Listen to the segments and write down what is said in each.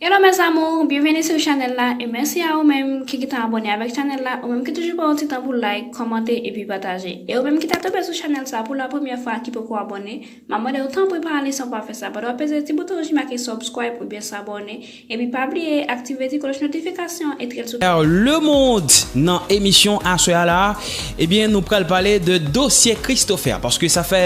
Hello mes amours, bienvenue sur chanel la et merci à ou menm ki gentan abone avek chanel la, ou menm ki toujou pran yon ti tan pou like, kòmante epi pataje. E ou menm ki ta tonbe sou chanel sa pou la premyè fwa ki poko abone, map mande ou tanpri pa ale san pa fè sa pandan wap peze ti bouton rouj ki make subscribe oubyen s'abonner epi pa bliye aktive ti kloch notification et rete sou Le monde nan emisyon aswè a la ebyen nou pral pale de dosye Christopher paske sa fè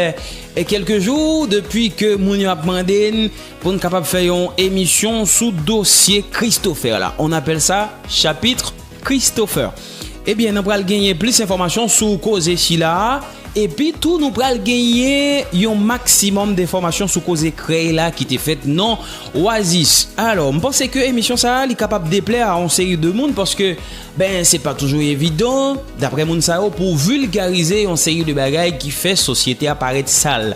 kelke jou depi ke moun yo ap mande n Pou n kapab fè yon emisyon sou dosye Christopher la. On apèl sa Chapitre Christopher. Ebyen nan pral genyen plis enfòmasyon sou koze sila a. Epi tou nou pral genyen yon maksimòm denfòmasyon sou koze krèy la ki te fèt nan Oasis. Alò, m panse ke emisyon sa a li kapab deplè a on seri de moun paske ben se pa toujou evidan, daprè moun sa yo, pou w vilgarize yon seri de bagay ki fè sosyete a parèt sal.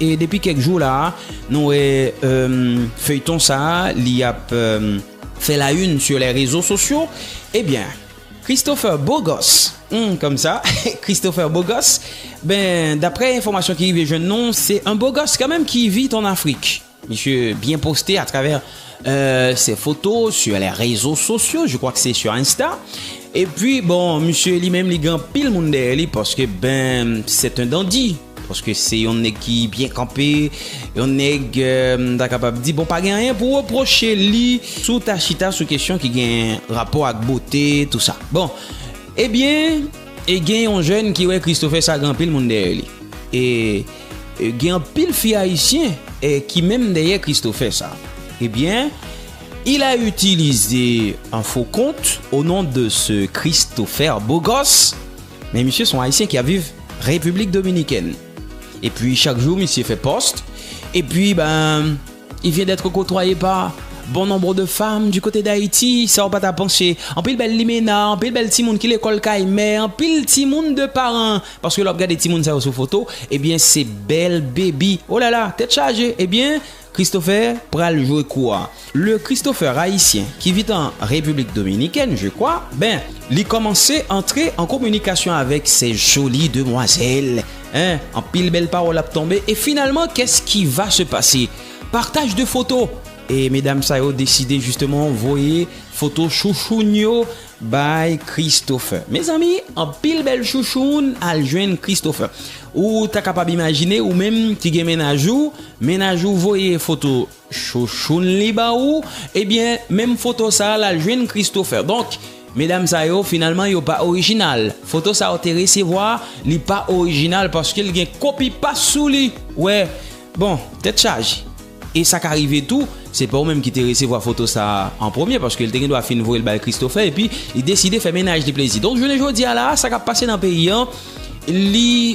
E depi kèk jou la a, nou wè feuilleton sa a li ap fè la une sur les réseaux sociaux, eh bien Christopher Beau Gosse, humm kòm sa, Christopher Beau Gosse, ben daprè enfòmasyon ki rive jwenn nou, se un beau gosse kanmenm ki vit en Afrique. Misye byen poste a travè se foto sur les rezo sosyo, je kwa ke se sur insta. E pwi bon misye li menm li gen anpil moun dèyè li paske ben c'est un dandi, paske se yon nèg ki byen kanpe, yon nèg m ta kapab di bon pa gen anyen pou repwoche li si w ta chita sou kesyon ki gen rapò ak bote tou sa. Bon ebyen e gen yon jèn ki wè Christopher sa gen anpil moun dèyè li e. Gen anpil fi ayisyen ki menm dèyè Christopher sa. Ebyen il a utilize un faux compte au nom de ce Christopher beau gosse men misye son ayisyen ki ap viv République Dominicaine epi chak jou misye fè post epi ben il vient d'être côtoyé par bon nombre de femmes du côté d'Haïti sa ou pa ta panse anpil bèl limena anpil bèl timoun ki lekòl kay mè anpil timoun de paran Paske lè wap gade timoun sa yo sou foto ebyen se bèl baby oh lala tèt chaje ebyen Christopher pral jwe kou a le Christopher ayisyen ki vit an République Dominicaine je kwa ben li kòmanse antre an kominikasyon avèk sè joli demwazèl en anpil bèl pawòl ap tonbe e finalman kès ki va se pase partaj de foto e medam sa yo deside jisteman voye foto chouchoun yo By Christopher Mezanmi anpil bèl chouchoun al jwenn Christopher Ou ta kapab imajine ou menm ki gen mennaj ou Mennaj ou voye foto chouchoun li ba ou Ebyen menm foto sa lal jwenn Christopher Donk medam sa yo finalman yo pa orijinal Foto sa ou te resevwa li pa orijinal paske l gen kopi pas sou li Ou wè Bon tèt chaje. E sa ka rive tou, se pa ou menm ki te resevwa foto sa a an premye, paske li te gendwa fin voye l bay Christopher epi li deside fè mennaj li plezi. Donk jounen jodi a la a, sa k ap pase nan peyi an, li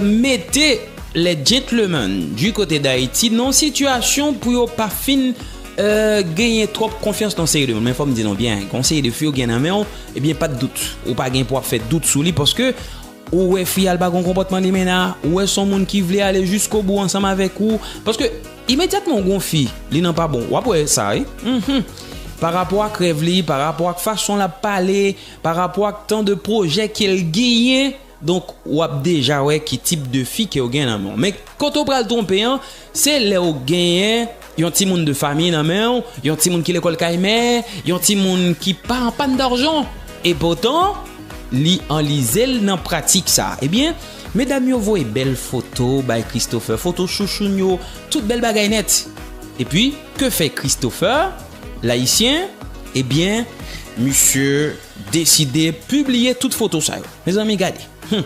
mete les gentlemen du côté d'Haiti nan yon sitiyasyon pou yo pa fin genyen twòp konfyans nan yon seri de moun. Men fò m di nou byen, gen yon seri de fi ou gen nan men w, ebyen pa t dout, ou pa gen pou w ap fè dout sou li paske Ou wè fi a l pa gon konpòtman li mennen a, ou wè s on moun ki vle ale jiskobou ansanm avèk ou, paske imedyatman ou gen yon fi li nan pa bon, w ap wè sa wi, humm, pa rapò ak rèv li, pa rapò ak fason l ap pale, pa rapò ak tan de pwojè ke l genyen, donk w ap deja wè ki tip de fi ke w gen nan men w. Men kote w pral twonpe an. Se lè ou genyen yon timoun de fami nan men ou, yon timoun ki lekòl kay mè, yon timoun ki pa an pàn darjan, epotan li anlize l nan pratik sa. Ebyen, medam yo voye bèl foto bay Christopher, foto chouchoun yo, tout bèl bagay nèt. Epi, ke fè Christopher, Layisyen? Ebyen, misye deside pibliye tout foto sa yo. Mezanmi gade! Hum!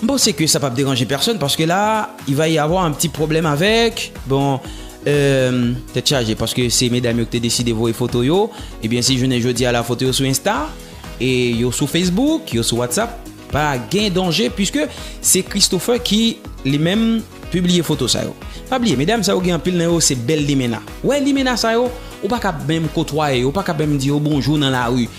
M panse ke sa pap deranje pèsòn paske la il va y avoir un petit problème avec bon euh tèt chaje paske se medam yo ki te deside voye foto yo ebyen si jounen jodi a la foto yo sou insta e yo sou facebook yo sou whatsapp pa gen danje puiske se Christopher ki li menm pibliye foto sa yo pa bliye medam sa yo gen anpil nan yo se bèl limena wè limena sa yo ou pa kab menm kotwaye yo ou pa kab menm di yo bonjou nan lari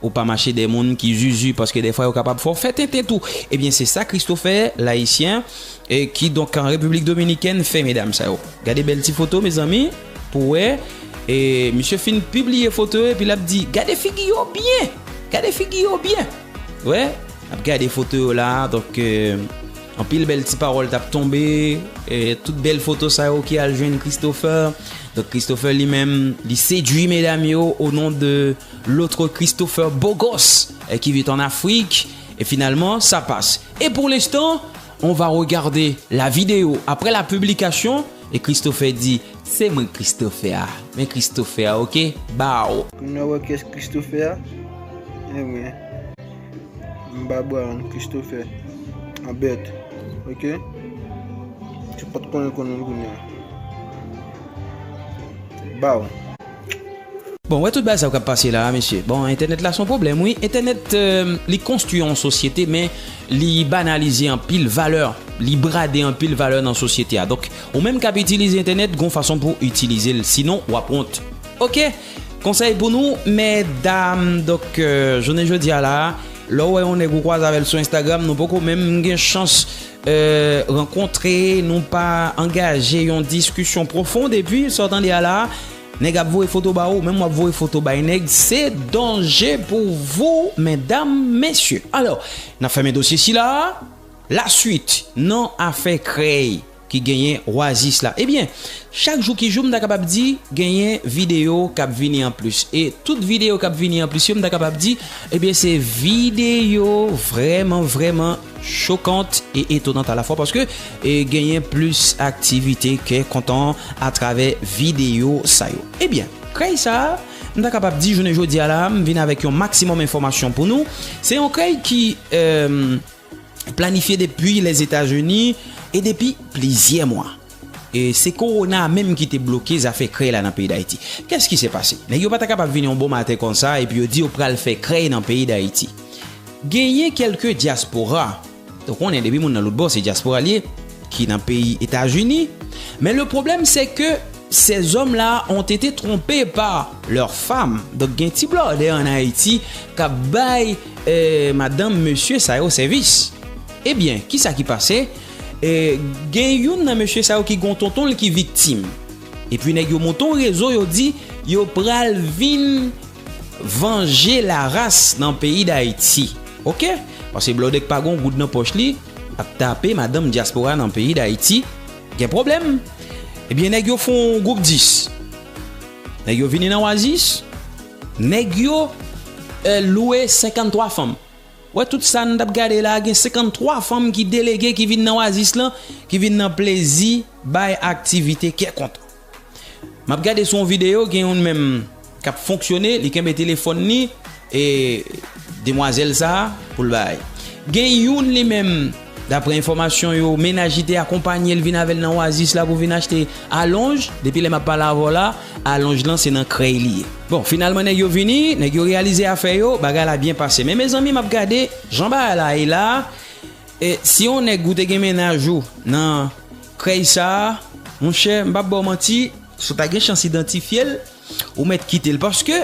Ou pa mache dèyè moun ki zuzu paske dèfwa yo kapab fè w fè tenten tou. Ebyen se sa Christo fè Layisyen ki donk an Repiblik Dominikèn fè medam sa yo. Gade bèl ti foto mezanmi pou wè. E misye fin pibliye foto yo epi l ap di, gade figi yo byen! Gade figi yo byen! Wè, n ap gade foto yo la a. Donk, anpil bèl ti pawòl t ap tonbe. Tout bèl foto sa yo ki al jwenn Christopher. Donk Christopher li menm li sedui medam yo o non de. L'autre Christopher beau gosse qui vit en Afrique et finalement ça passe et pour l'instant on va regarder la vidéo après la publication et Christopher dit se mwen Christopher a men Christopher a ok baww. Pou nou wè kyès Christopher a Ebyen m pa Brian Christopher a bèt ok si w pat konnen konnen kounya baww. Bon wè tout bagay sa yo kap pase la mesye bon entènèt la son pwoblèm wi entènèt li konstwi yon sosyete men li banalize anpil valè li brade anpil valè nan sosyete a donk ou menm kap itilize entènèt gon fason pou itilize l sinon wap wont ok konsèy pou nou medam donk jounen jodi a la lè ou wè yon nèg ou kwaze avèl sou enstagram nou poko menm gen chans rankontre, nou pa angaje yon diskisyon pwofond epi sa w tande a la a nèg ap voye foto ba ou menm wap voye foto bay nèg se danje pou wou medam mesye alò nan fèmen dosye sila a la swit nan afè krèy ki genyen oasis la ebyen chak jou ki jou m ta kapab di genyen videyo kap vini an plis e tout videyo kap vini an plis yo m ta kapab di ebyen se videyo vreman vreman. chokant e etonant alafwa paske genyen plis aktivite kè kontan atravè videyo sa yo. Ebyen, krèy sa a, m ta kapab di jounen jodi a la a, m vin avèk yon maksimòm enfòmasyon pou nou. Se yon krèy ki planifye depi Lèzetazini e depi plizyè mwa. E se korona a menm ki te bloke zafè krèy la nan peyi Dayiti. Kès ki se pase? Nèg yo pa ta kapab vini yon bon maten konsa epi yo di yo pral fè krèy nan peyi Dayiti. Genyen kèlke dyaspora, ou konnen depi moun nan lout bò se dyaspora li ye, ki nan peyi Etazini. Men le pwoblèm se ke sèzòm la ont ete twonpe pa lèr fam. Donk gen ti blòdè an Ayiti k ap bay madanm mesye sa yo sèvis. Ebyen, kisa ki pase? Gen youn nan mesye sa yo ki gen yon tonton l ki viktim. Epi nèg yo monte yon rezo yo di yo pral vin vanje Laras nan peyi Dayiti. Ok! Pase Blòdè k pa gen yon goud nan pòch li ap tape madanm dyaspora nan peyi Dayiti gen pwoblèm. Ebyen nèg yo fon gwoup 10. Nèg yo vini nan Wazis. Nèg yo lwe 53 fanm. Wè tout sa n tap gade la gen 53 fanm ki delege ki vin nan Oasis lan ki vin nan plezi bay aktivite kè kontan. Map gade sou yon video gen youn menm kap fonksyone li kenbe telefòn li e demwazèl sa poul bay. Gen youn li menm. Daprè enfòmasyon yo, mennaj li te akonpanye l vin avè l nan Oasis la pou vin achte alonj. Depi lè m ap pale avè w la, alonj lan se nan krèy li ye. Bon, finalman nèg yo vini, nèg yo reyalize afè yo, bagay la byen pase. Men mezanmi m ap gade jan bagay la ye la a, e si on nèg ou te gen mennaj ou nan krèy sa a, monchè, m p ap ba w manti, si w ta gen chans idantifye l, ou mèt kite l paske,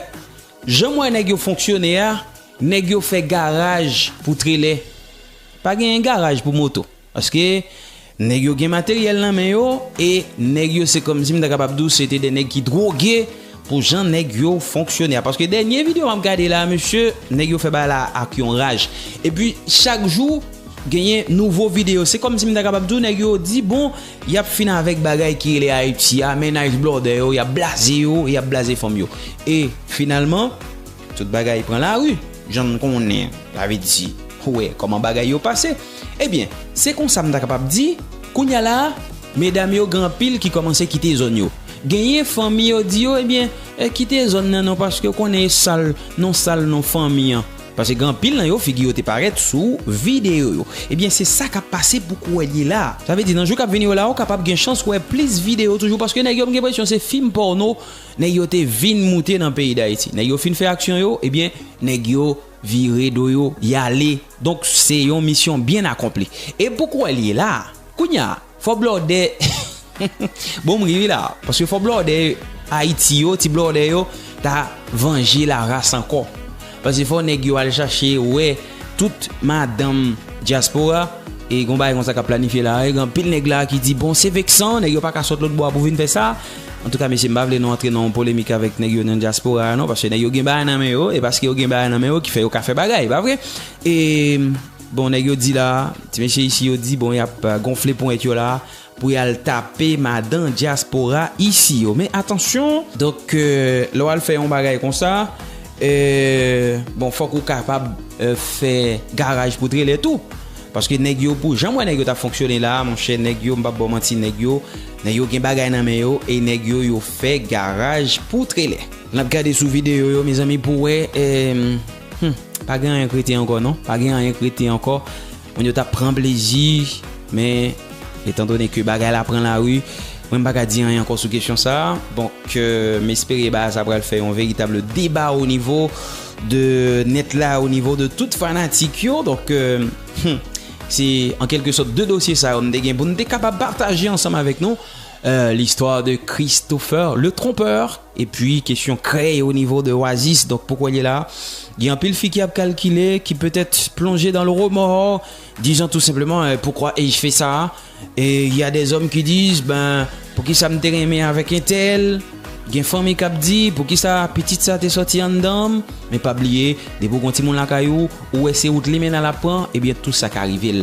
Janm wè nèg yo fonksyone a nèg yo fè garaj pou trelè pa genyen garaj pou moto paske nèg yo gen materyèl nan men yo e nèg yo se kòmsi m ta kapab di w se te de nèg ki dwoge pou jan nèg yo fonksyone a paske dènye videyo m ap gade la mesye nèg yo fè bagay la ak yon raj epi chak jou genyen nouvo videyo se kòmsi m ta kapab di w nèg yo di bon Yap fin avèk bagay ki rele Ayiti a, mennaj blòdè yo, yap blaze yo, yap blaze fanm yo. E finalman, tout bagay pran lari, jan n konnen, sa vle di, ou wè kòman bagay yo pase. Ebyen, se konsa m ta kapab di, kounye a la, medam yo gen anpil ki kòmanse kite zòn yo. Genyen fanmi yo di yo, ebyen, kite zòn nan non paske ou konnen e sal, non sal non fanmi an. Paske gen anpil nan yo figi yo te parèt sou videyo yo. Ebyen se sa kap pase pou Kwelie la. Sa vle di nan jou kap vini yo la ou kapab gen chans wè plis videyo toujou paske nèg yo m gen presyon se fim pòno nèg yo te vin moute nan peyi Dayiti. Nèg yo fin fè aksyon yo ebyen nèg yo vire do yo yale. Donk se yon misyon byen akonpli. E pou Kwelie la kounya Fo blòdè Bon m ri wi la Paske fo blòdè Ayiti yo Ti blòdè yo Ta vanje la ras ankò Paske fo nèg yo al chache wè Tout madanm Dyaspora E gon bagay konsa k ap planifye la Gen anpil nèg la ki di Bon se veksan Nèg yo pa ka sot lòtbò a pou vin fè sa Antouka mesye m pa vle nou antre nan yon polemik avèk nèg yo nan Dyaspora a non Paske nèg yo gen bagay nan men yo E paske yo gen bagay nan men yo ki fè yo ka fè bagay Pa vre E Bon nèg yo di la, ti mesye isi yo di bon yap gonfle ponyèt yo la pou yal tape madan dyaspora isi yo. Men atansyon! Donk lè wal fè yon bagay konsa, bon fòk ou kapab fè garaj pou trelè tou. Paske nèg yo pou janm wè nèg yo tap fonksyone la, monchè nèg yo mpap baw manti nèg yo, nèg yo gen bagay nan men yo e nèg yo yo fè garaj pou trelè. Nap gade sou videyo yo mezanmi pou wè. Hum pa gen anyen k rete ankò non pa gen anyen k rete ankò moun yo tap pran plezi men etan done ke bagay la pran lari mwen m pa ka di anyen ankò sou kesyon sa donk m espere bagay sa pral fè yon veritab deba o nivo de nèt la o nivo de tout fanatik yo donk hum se an kelke sòt de dosye sa yo m te gen pou m te kapab pataje ansanm avèk nou listwa de Christopher le trompeur. Epi kesyon krèy onivo de Oasis, donk pou kwèl ye la, gen anpil fi ki ap kalkile, ki petèt plonje dan le remò, dizan tou senpleman, eh pourquoi ai-je fait ça? Et il y a des hommes qui disent, ben poukisa m te renmen avèk entèl? Gen fanmi k ap di, poukisa pitit sa te sòti anndan m? Men pa bliye, depi w gen yon timoun lakay ou, ou wè se wout limena l ap pran, ebyen tou sa ka rive l.